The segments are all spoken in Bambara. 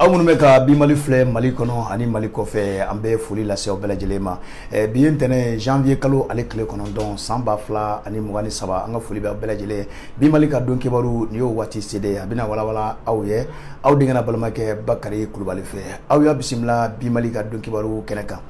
aw minnu bɛ ka bi mali filɛ mali kɔnɔ ani mali kɔfɛ an bɛ foli lase aw bɛɛ lajɛlen ma eh, bi ye ntɛnɛ janvier kalo ale tile kɔnɔntɔn san ba fila ani mugan ni saba an ka foli bɛ aw bɛɛ lajɛlen ye bi mali ka don kibaru nin y'o waati se de ye a bɛna walawala aw ye aw denkɛ n'aw balimakɛ bakari kulubali fɛ aw y'a bisimila bi mali ka don kibaru kɛnɛ kan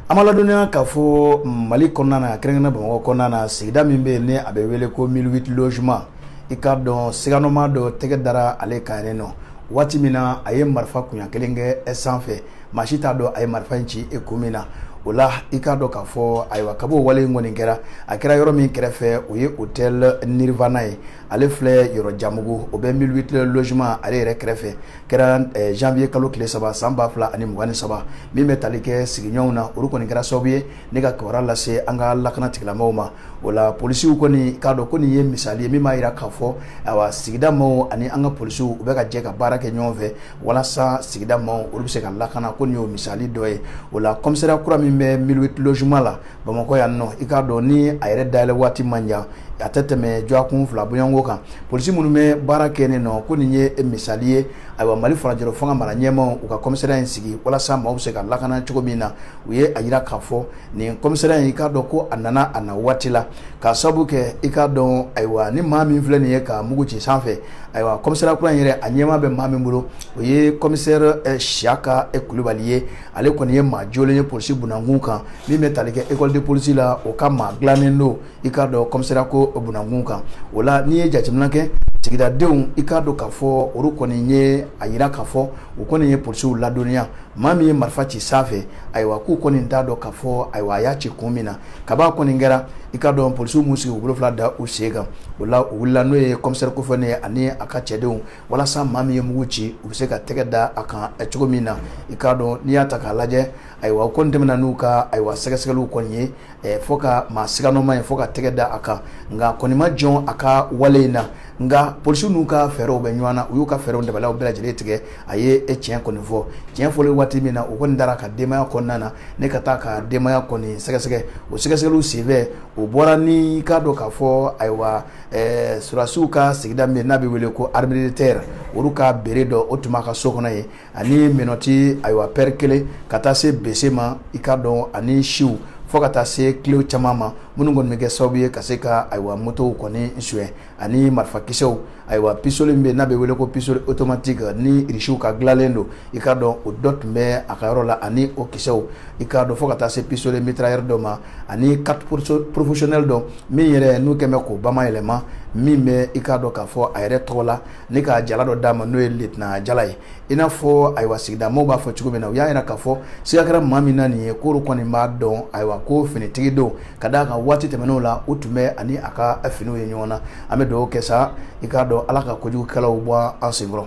an b'aw ladɔnniya k'a fɔ mali kɔnɔna na kɛrɛnkɛrɛn bamakɔ kɔnɔna na sigida min bɛ yen ni a bɛ wele ko mille huit logements i k'a dɔn siganɔma dɔ tɛgɛ dara ale kan yen nɔ waati min na a ye marifa kunya kelen kɛ sanfɛ maa si t'a dɔn a ye marifa in ci e kun min na o la i k'a dɔn k'a fɔ ayiwa kab'o wale in kɔni kɛra a kɛra yɔrɔ min kɛrɛfɛ o ye hôtel nirvana ye ale filɛ yɔrɔjanbugu o bɛ mille huit logements ale yɛrɛ kɛrɛfɛ kɛra eh, janvier kalo tile saba san ba fila ani mugan ni saba min bɛ tali kɛ sigiɲɔgɔnw na olu kɔni kɛra sababu ye ni ka kibaruya lase an ka lakana tigilamɔgɔw ma o la polisiw kɔni i k'a dɔn ko nin ye misali ye min b'a jira k'a fɔ awa sigida maaw ani an ka polisiw u bɛ ka jɛ ka baara kɛ ɲɔgɔn fɛ walasa sigida maaw olu bɛ se ka lakana ko nin y'o misali dɔ ye o la kɔmisariya kura min bɛ mille huit logements la bamakɔ yan nɔ i k'a dɔn ni a yɛrɛ dayɛlɛ waati man jan a tɛ tɛmɛ dɔgɔkun fila bɔɲɔgɔnko kan polisi minnu bɛ baara kɛ yen nɔ ko nin ye misali ye ayiwa mali furancɛla fanga mara ɲɛmaw u ka kɔmisɛriya in sigi walasa maaw bɛ se ka lakana cogo min na u ye a yira k'a fɔ nin kɔmisɛriya in i k'a dɔn ko a nana a na waati la k'a sabu kɛ i k'a dɔn ayiwa ni maa min filɛ nin ye ka mugu ci sanfɛ ayiwa kɔmisɛriya kura in yɛrɛ a ɲɛma bɛ maa min bolo o ye kɔmisɛri eh, siyaka kulubali ye ale kɔni ye maa jolen ye polisi bunda kunkan min bɛ tali kɛ école de polisi la o ka maa dilannen don i k'a dɔn commissariat ko bunda kunkan o la n'i ye jateminɛ kɛ sigidadenw i k'a dɔn k'a fɔ olu kɔni ye a yira k'a fɔ u kɔni ye polisiw ladɔnniya maa min ye marifa ci sanfɛ ayiwa k'u kɔni t'a dɔn k'a fɔ ayiwa a y'a ci kun min na kab'a kɔni kɛra i k'a dɔn polisiw m'u sigi u bolo fila da u sen kan o la u wulila n'o ye kɔmisɛri kofɔlen ye ani a ka cɛdenw walasa maa min ye mugu ci u bɛ se ka tɛgɛ da a kan cogo min na i k'a dɔn n'i y'a ta k'a lajɛ ayiwa u kɔni tɛmɛna n'u ka ayiwa sɛgɛsɛgɛliw kɔni ye fo ka maa siganɔma ye fo ka tɛgɛ da a kan nka a kɔni ma jɔ a ka wale in na nka polisiw n'u ka fɛɛrɛw bɛ ɲɔgɔn na u y'u ka fɛɛrɛw dabaliw bɛɛ lajɛlen tigɛ a ye tiɲɛ kɔni fɔ tiɲɛ fɔlen waati min na u kɔni dara a ka denbaya kɔnɔna na ni ka taa a ka denbaya kɔni sɛgɛsɛgɛ o sɛgɛsɛgɛliw senfɛ o bɔra ni k'a dɔn k'a fɔ ayiwa Ɛɛ sɔrɔdasiw ka sigida min n'a bɛ wele ko armée de terre olu ka béret dɔ o tun b'a ka so kɔnɔ yen ani menottes ayiwa paire kelen ka taa se bese ma i k'a dɔn ani siw fo ka taa se clé caman ma minnu kɔni bɛ kɛ sababu ye ka se ka ayiwa motow kɔni suɲɛ ani marifakisɛw ayiwa pistolet min bɛ yen n'a bɛ wele ko pistolet automatique ni irisiw ka dilanlen don i k'a dɔn o dɔ tun bɛ a ka yɔrɔ la ani o kisɛw i k'a dɔn fo ka taa se pistolet mitrailleur dɔ ma ani carte professionnelle dɔ min yɛrɛ n'u kɛmɛ k'o bama yɛlɛma min bɛ i k'a dɔn k'a fɔ a yɛrɛ tɔgɔ la ni ka jala dɔ d'a ma n'o ye litina jala ye i n'a fɔ ayiwa sigida maaw b'a fɔ cogo min na u y'a yira k'a fɔ siga kɛra maa min na nin ye k'olu kɔni b'a dɔn ayiwa ko finitigi don ka d'a kan waati tɛmɛnenw la u tun bɛ a ni a ka finiw ye ɲɔgɔn na an bɛ dugawu kɛ sa i k'a dɔn ala ka kojugukɛlaw bɔ an senkɔrɔ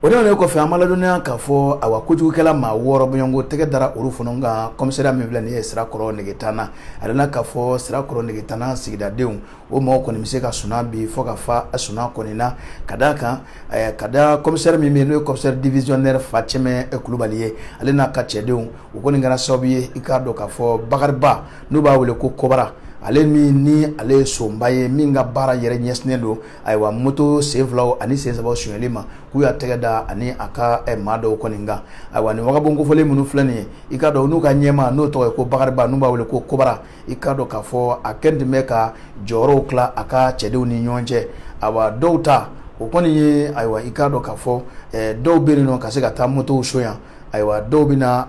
o tɛmɛnen kɔfɛ an b'aw ladɔnniya k'a fɔ awa kojugukɛla maa wɔɔrɔ bɔɲɔgɔnko tɛgɛ dara olu fana kan kɔmisariya min filɛ nin ye sirakɔrɔ megetana a nana k'a fɔ sirakɔrɔ megetana sigidadenw o mɔgɔ kɔni bɛ se ka sunan bi fo ka fa a sunan kɔni na ka d'a kan eh, ka da kɔmisɛri min bɛ yen n'o ye kɔmisɛri divisiyɔnɛri fancɛmɛ kulubali ye ale n'a ka cɛdenw o kɔni kɛra sababu ye i k'a dɔn k'a fɔ bakariba n'u b'a wele ko kɔbara ale min ni ale ye sonba ye min ka baara yɛrɛ ɲɛsinnen don ayiwa moto sen filaw ani sen sabaw sonyɛli ma k'u y'a tɛgɛ da a ni a ka eh, maa dɔw kɔni kan ayiwa nin wagabɔn kofɔlen minnu filɛ nin ye i k'a dɔn n'u ka ɲɛmaa n'o tɔgɔ ye ko bakariba n'u b'a wele ko kobara i k'a dɔn k'a fɔ a kelen tun bɛ ka jɔyɔrɔw tila a ka cɛdenw ni ɲɔgɔn cɛ ayiwa dɔw ta o kɔni ye ayiwa i k'a dɔn k'a fɔ eh, dɔw bɛ yen nɔ ka se ka taa motow sonya ayiwa dɔw bɛ na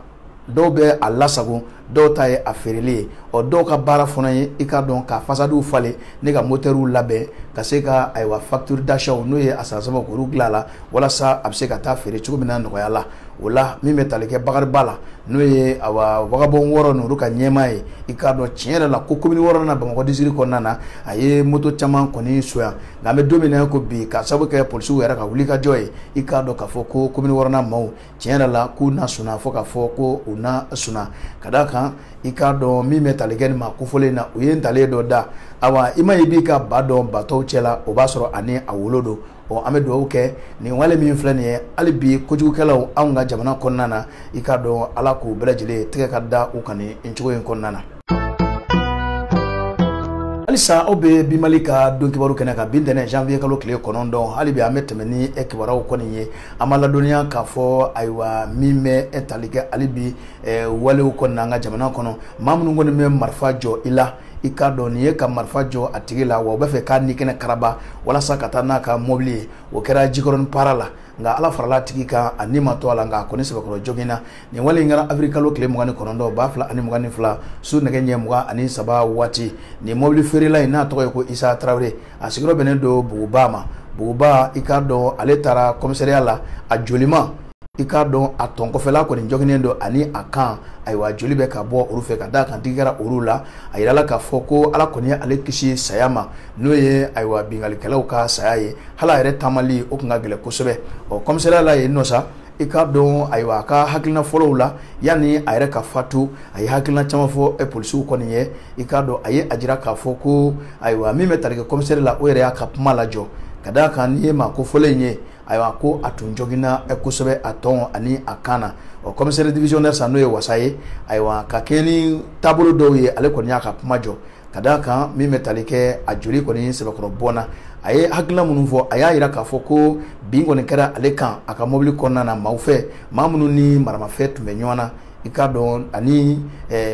dɔw bɛ a lasago dɔw ta ye a feereli ye ɔ dɔw ka baara fana ye i k'a dɔn ka fasadiw falen ni ka motɛriw labɛn ka se ka ayiwa facture d'achat n'o ye a san sɛbɛn k'olu dilan a la walasa a bɛ se ka taa feere cogo min na nɔgɔya la o la min bɛ tali kɛ bakariba la n'o ye awa wagabɔn wɔɔrɔ n'olu ka ɲɛmaa ye i k'a dɔn tiɲɛ yɛrɛ la ko komini wɔɔrɔnan bamakɔ disiriki kɔnɔna na a ye moto caman kɔni sonya nka an bɛ don min na ko bi ka sababu kɛ polisiw yɛrɛ ka wulikajɔ ye i k'a dɔn k'a fɔ ko komini wɔɔrɔnan maaw tiɲɛ yɛrɛ la k'u na sunan fo k'a fɔ ko u na sunan ka d'a kan i k'a dɔn min bɛ tali kɛ nin maa kofɔlen in na u ye ntalen dɔ da awa i maa ye b'i ka ba dɔn ba tɔw cɛ la o b'a sɔrɔ a ni a wolo don ɔ an bɛ dugawu kɛ nin wale min filɛ nin ye hali bi kojugukɛlaw anw ka jamana kɔnɔna na i k'a dɔn ala k'u bɛɛ lajɛlen tɛgɛ ka da u kan nin cogo in kɔnɔna na halisa aw bɛ bi mali ka don kibaru kɛnɛ kan bi ntɛnɛn janvier kalo tile kɔnɔntɔn hali bi an bɛ tɛmɛ ni kibaruyaw kɔni ye an b'aw ladɔnniya k'a fɔ ayiwa min bɛ e tali kɛ hali bi walew kɔnɔna an ka jamana kɔnɔ maa minnu kɔni bɛ marifa jɔ i la i k'a dɔn nin ye ka marifa jɔ a tigi la wa u b'a fɛ k'a ni kɛnɛ karaba walasa ka taa n'a ka mɔbili ye o kɛra jikɔrɔni para la nka ala farala a tigi kan a ni ma to a la nka a kɔni sɛbɛkɔrɔ joginna nin wale in kɛra awirili kalo tile mugan ni kɔnɔntɔn ba fila ani mugan ni fila su nɛgɛ ɲɛ mugan ani saba waati nin mɔbili feerela in n'a tɔgɔ ye ko isa tarawele a sigiyɔrɔ bɛnnen don buguba ma buguba i k'a dɔn ale taara kɔmisariya la a jolima i k'a dɔn a tɔn kɔfɛla kɔni joginnen don ani a kan ayiwa joli bɛ ka bɔ olu fɛ ka d'a kan tigɛ kɛra olu la a yirala k'a fɔ ko ala kɔni ye ale kisi saya ma n'o ye ayiwa binkannikɛlaw ka saya ye hali a yɛrɛ taamali o tun ka gɛlɛn kosɛbɛ ɔ kɔmisariya la yen nɔ sa i k'a dɔn ayiwa a ka hakilina fɔlɔw la yanni a yɛrɛ ka fatu a ye hakilina caman fɔ eh, polisiw kɔni ye i k'a dɔn a ye a jira k'a fɔ ko ayiwa min bɛ tali kɛ kɔmisɛri la o yɛrɛ y'a ka kuma lajɔ ka d'a kan n'i ye maa kofɔlen in ye ayiwa ko a tun joginna eh, kosɛbɛ a tɔn ani a kan na ɔ kɔmisɛri divisionnaire sa n'o ye wasa ye ayiwa ka kɛɲɛ ni taabolo dɔw ye ale kɔni y'a ka kuma jɔ ka d' a kan min bɛ tali kɛ a joli kɔni sɛbɛkɔrɔ bɔnna a ye hakilila minnu fɔ a y'a jira k'a fɔ ko bin kɔni kɛra ale kan a ka mobili kɔnɔna na maaw fɛ maa minnu ni maramafɛn tun bɛ ɲɔgɔn na i k'a dɔn ani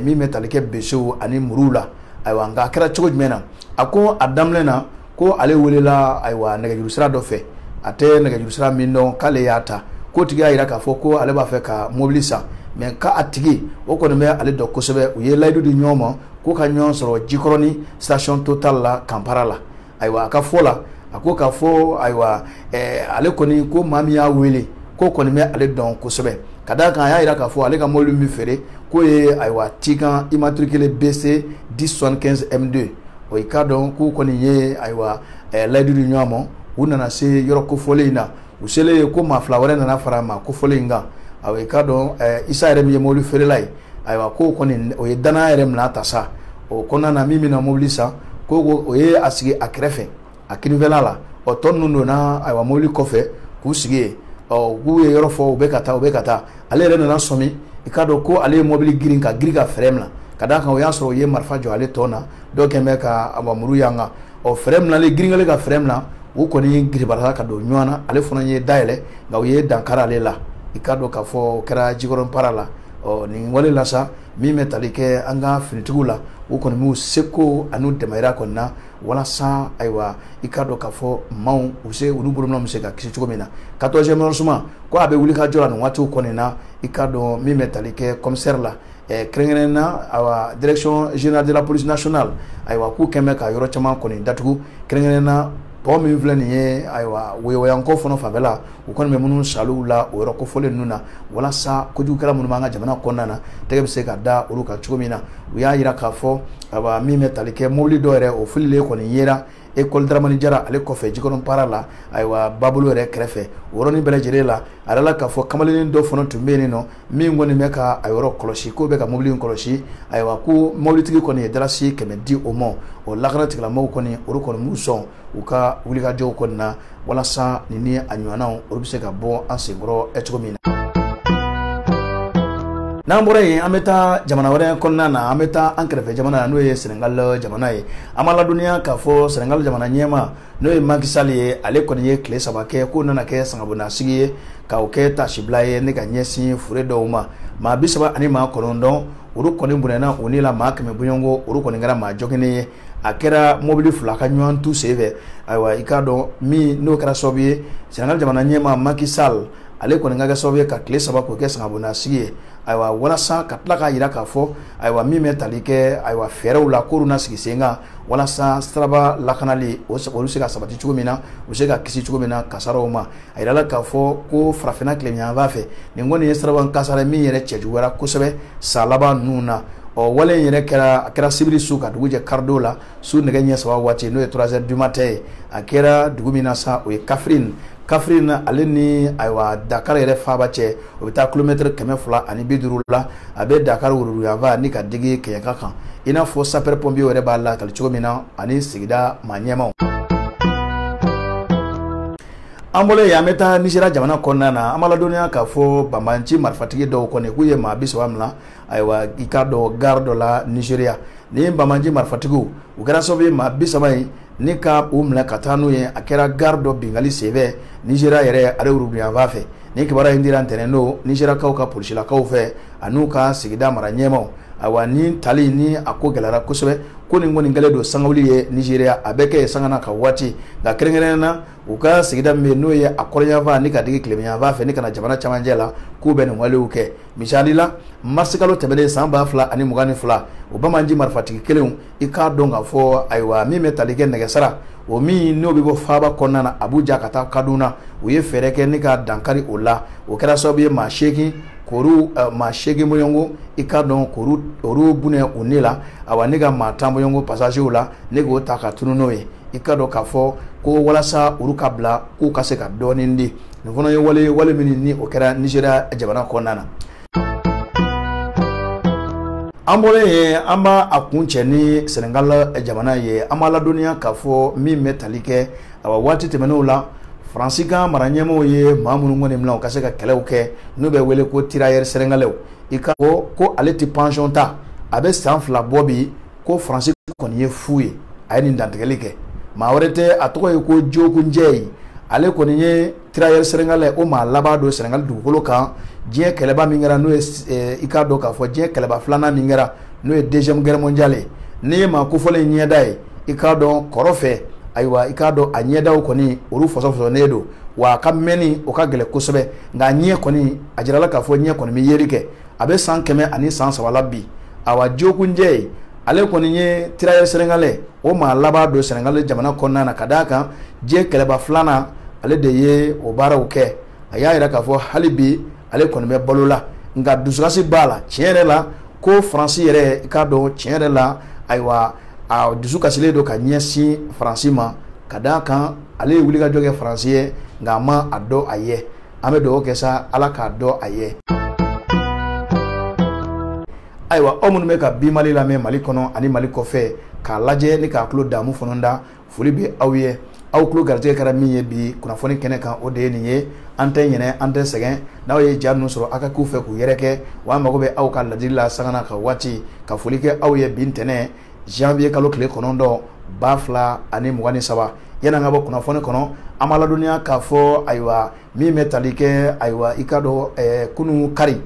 min bɛ tali kɛ besew ani muruw la ayiwa nka a kɛra cogo jumɛn na a ko a daminɛ na ko ale welela ayiwa nɛgɛjuru sira dɔ fɛ a tɛ nɛgɛjuru sira min dɔn k'ale y'a ta k'o tigi y'a jira k'a fɔ ko ale b'a fɛ ka mobili san mais k'a tigi o kɔni bɛ ale dɔn kosɛbɛ u ye layidu di ɲɔgɔn ma k'u ka ɲɔgɔn sɔrɔ jikɔrɔni station total la camp para la ayiwa a ka fɔ la a ko k'a fɔ ayiwa eh, ale kɔni ko maa min y'a wele k'o kɔni bɛ ale dɔn kosɛbɛ ka d'a kan a y'a jira k'a fɔ ale ka mobili min feere k'o ye ayiwa tiguan immatriculé bc 1075 m2 o i k'a dɔn k'u kɔni ye ayiwa layidu di ɲɔgɔn ma u nana se yɔrɔ kofɔlen in na u selen ye ko maa fila wɛrɛ nana fara maa kofɔlen in kan a i k'a dɔn isa yɛrɛ min ye mobili feerela ye ayiwa ko o kɔni o ye dan yɛrɛ minɛ ta sa o kɔnɔna na min bɛna mobili san ko o ye a sigi a kɛrɛfɛ a kininfɛla la ɔ tɔ ninnu donna ayiwa mobili kɔfɛ k'u sigi yen ɔ k'u ye yɔrɔ fɔ u bɛ ka taa u bɛ ka taa ale yɛrɛ nana sɔmi i k'a dɔn ko ale ye mobili girin ka girin ka frein minɛ ka d'a kan o y'a sɔrɔ u ye marifa jɔ ale tɔn na dɔ kɔni bɛ ka ayiwa muru y'an kan ɔ frein minɛlen girin kɛlen ka frein minɛ u kɔni giribarala ka don ɲɔgɔn na ale fana ye da yɛlɛ nka u ye dankari ale la i k'a dɔn k'a fɔ o kɛra jikɔrɔni para la ɔ nin wale la sa min bɛ tali kɛ an ka finitigiw la u kɔni b'u seko an'u damayira kɔni na walasa ayiwa i k'a dɔn k'a fɔ maaw u se olu bolonɔ bɛ se ka kisi cogo min na quatorzième arrondissement ko a bɛ wulikajɔ la nin waatiw kɔni na i k'a dɔn min bɛ tali kɛ commissaire la eh, kɛrɛnkɛrɛnnen na ayiwa direction générale de la police nationale ayiwa k'u kɔni bɛ ka yɔrɔ caman kɔni datugu kɛrɛnkɛrɛnnen na pɔn min filɛ nin ye ayiwa woyowayanko fana fanfɛla u kɔni bɛ minnu saliw la o yɔrɔ kofɔlen ninnu na walasa kojugukɛla minnu b'an ka jamana kɔnɔna na tɛgɛ bɛ se ka da olu kan cogo min na u y'a jira k'a fɔ aba min bɛ tali kɛ mobili dɔ yɛrɛ o fililen kɔni yera ekɔli daramani jara ale kɔfɛ jikɔrɔni para la ayiwa babolo yɛrɛ kɛrɛfɛ o yɔrɔnin bɛɛ lajɛlen la a yirala k'a fɔ kamalennin dɔ fana tun bɛ yen ɔ min kɔni bɛ ka a yɔrɔ kɔlɔsi k'o bɛ ka mobili in kɔlɔsi ayiwa ko mobilitigi kɔni ye darasi kɛmɛ di o ma o lakana tigilamɔgɔw kɔni olu kɔni b'u sɔn u ka wulikajɔw kɔni na walasa nin ni a ɲɔgɔnnaw olu bɛ se ka bɔ an senkɔrɔ ɛ cogo min na n'an bɔra yen an bɛ taa jamana wɛrɛ kɔnɔna na an bɛ taa an kɛrɛfɛ jamana na n'o ye senegal jamana ye an b'a ladɔnniya k'a fɔ senegal jamana ɲɛmaa n'o ye Macky Sall ye ale kɔni ye tile saba kɛ k'o nana kɛ sangabonasigi ye ka o kɛ taasibila ye ni ka ɲɛsin fure dɔw ma maa bi saba ani maa kɔnɔntɔn olu kɔni bɔnɛna u ni la maa kɛmɛ bɔɲɔgɔnko olu kɔni kɛra maa joginnen ye a kɛra mobili fila ka ɲɔgɔn tu senfɛ ayiwa i k'a dɔn min n'o kɛra sababu ye senegal jamana ɲɛmaa Macky Sall ale kɔni ka kɛ sababu ye ka tile saba k'o kɛ sangabonasigi ye ayiwa walasa ka tila k'a jira k'a fɔ ayiwa min bɛ tali kɛ ayiwa fɛɛrɛw la k'olu na sigi sen kan walasa siraba lakanali o olu se ka sabati cogo min na u se ka kisi cogo min na kasaraw ma a yirala k'a fɔ ko farafinna tilebinyanfan fɛ nin kɔni ye siraba kasara min yɛrɛ cɛjuguyara kosɛbɛ san laban ninnu na ɔ wale in yɛrɛ kɛra a kɛra sibiri su ka dugu jɛ kari don la su nɛgɛ ɲɛ saba waati n'o ye trois heures du matin ye a kɛra dugu min na sa o ye Kaffrine Kaffrine ale ni ayiwa dakar yɛrɛ faaba cɛ o bɛ taa kilomɛtiri kɛmɛ fila ani bi duuru la a bɛ dakar woroduguyanfan ni ka digi kɛɲɛka kan i n'a fɔ sapɛrɛ pɔnpiye yɛrɛ b'a lakali cogo min na ani sigida mara ɲɛmaaw an bɔlen yen an bɛ taa nizeriya jamana kɔnɔna na an b'a ladɔnniya k'a fɔ banbaanci marifatigi dɔw kɔni k'u ye maa bi saba minɛ ayiwa i k'a dɔn gari dɔ la nizeriya nin banbaanci marifatigiw u kɛra sababu ye maa bi saba in ni ka u minɛ ka taa n'u ye a kɛra gari dɔ binkanni senfɛ nizeriya yɛrɛ ale woroduguyanfan fɛ nin kibaruya in dira ntɛnɛn don nizeriyakaw ka polisilakaw fɛ ani u ka sigida mara ɲɛmaaw ayiwa ni tali ni a ko gɛlɛyara kosɛbɛ ko nin kɔni kɛlen don sangawuli ye nigeria a bɛ kɛ yen sanga ni ka waati nka kɛrɛnkɛrɛnnen na u ka sigida min bɛ yen n'o ye a kɔrɔnyanfan ni ka digi tilebinyanfan fɛ ni ka na jamana camancɛ la k'u bɛ nin walew kɛ misali la marisikalo tɛmɛnen san ba fila ani mugan ni fila o banbaanci marifatigi kelenw i k'a dɔn k'a fɔ ayiwa min bɛ tali kɛ nɛgɛsira o min n'o bɛ bɔ faaba kɔnɔna na abuja ka taa kaduna u ye fɛɛrɛ kɛ ni ka dankari o la o kɛra sababu ye maa seegin k'olu eh, maa seegin bɔɲɔgɔnko i k'a dɔn k'olu olu bɔnɛ u ni la awa ni ka maa tan bɔɲɔgɔnko pasazew la ni k'u ta ka tunun n'u ye i k'a dɔn k'a fɔ ko walasa olu ka bila k'u ka se ka dɔɔnin di nin fana ye wale wale min ni o kɛra nizeriya jamana kɔnɔna na an bɔlen yen an b'a kuncɛ ni senegal eh, jamana ye an b'a ladɔnniya k'a fɔ min bɛ tali kɛ awa waati tɛmɛnenw la faransi ka mara ɲɛmaaw ye maa minnu kɔni minɛ u ka se ka kɛlɛw kɛ n'u bɛ wele ko tirayɛri senegalɛw i ka ko ko ale tɛ pansiyɔn ta a bɛ san fila bɔ bi ko faransi kɔni ye fu ye a ye nin dantigɛli kɛ maa wɛrɛ tɛ a tɔgɔ ye ko Diogo Dieye ale kɔni ye tirayɛri sɛnɛgalɛ o maa laban don sɛnɛgali dugukolo kan diɲɛ kɛlɛba min kɛra n'o ye eh, i k'a dɔn k'a fɔ diɲɛ kɛlɛba filanan min kɛra n'o ye deuxième guerre mondiale ye n'i ye maa kofɔlen in ɲɛda ye i k'a dɔn kɔrɔ fɛ ayiwa i k'a dɔn a ɲɛdaw kɔni olu fɔsɔfɔsɔnen don wa a ka mɛnni o ka gɛlɛn kosɛbɛ nka a ɲɛ kɔni a jirala k'a fɔ ɲɛ kɔni bɛ yeli kɛ a bɛ san kɛmɛ ani san saba la bi awa njogu jɛye ale kɔni ye tirayɛri sɛnɛgalɛ o maa laban don sɛnɛgali jamana kɔnɔna na ka d'a kan diɲɛ kɛlɛba filanan ale de ye o baaraw kɛ a y'a jira k'a fɔ hali bi ale kɔni bɛ balo la nka dusukasi b'a la tiɲɛ yɛrɛ la ko faransi yɛrɛ i k'a dɔn tiɲɛ yɛrɛ la ayiwa a dusu kasilen don ka ɲɛsin faransi ma ka d'a kan ale ye wulikajɔ kɛ faransi ye nka a ma a dɔn a ye an bɛ dugawu kɛ sa ala k'a dɔn a ye ayiwa aw minnu bɛ ka bi mali lamɛn mali kɔnɔ ani mali kɔfɛ k'a lajɛ ni k'a tulo damu fana da foli bɛ aw ye aw tulo garijɛgɛ kɛra min ye bi kunnafoni kɛnɛ kan o de ye nin ye an tɛ ɲinɛ an tɛ sɛgɛn n'aw ye ja ninnu sɔrɔ aw ka k'u fɛ k'u yɛrɛkɛ wa an mago bɛ aw ka ladili la sanga n'a ka waati ka foli kɛ aw ye bi ntɛnɛn zanwiye kalo tile kɔnɔntɔn ba fila ani mugan ni saba an ka bi kunnafoni kɔnɔ an b'aw ladɔnniya k'a fɔ ayiwa min bɛ tali kɛ ayiwa i ka dɔn eh, kunun kari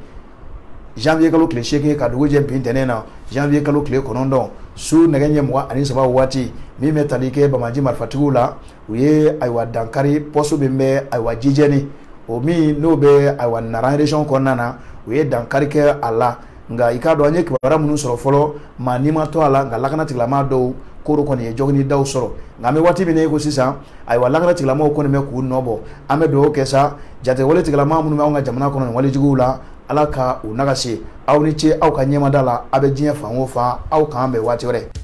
zanwiye kalo tile seegin ka dugujɛ bi ntɛnɛn na zanwiye kalo tile kɔnɔntɔn su nɛgɛ ɲɛ mugan ni saba waati min bɛ tali kɛ banbaanci marifatigiw la u ye ayiwa dankari pɔsi min bɛ ayiwa jijɛni o min n'o bɛ ayiwa nareson kɔnɔna na u ye dankari kɛ a la nka i k'a dɔn an ye kibaruya minnu sɔrɔ fɔlɔ maa ni ma to a la nka lakana tigilamaa dɔw koro kɔni ye joginidaw sɔrɔ nka an bɛ waati min na i ko sisan ayiwa lakana tigilamaaw kɔni bɛ k'u nɔ bɔ an bɛ dugawu kɛ sa jatigɛwale tigilamaa minnu bɛ anw ka jamana kɔnɔ nin walejuguw la ala ka u nagasi aw ni ce aw ka ɲɛmada la aw bɛ diɲɛ fan o fan aw k'an bɛn waati wɛrɛ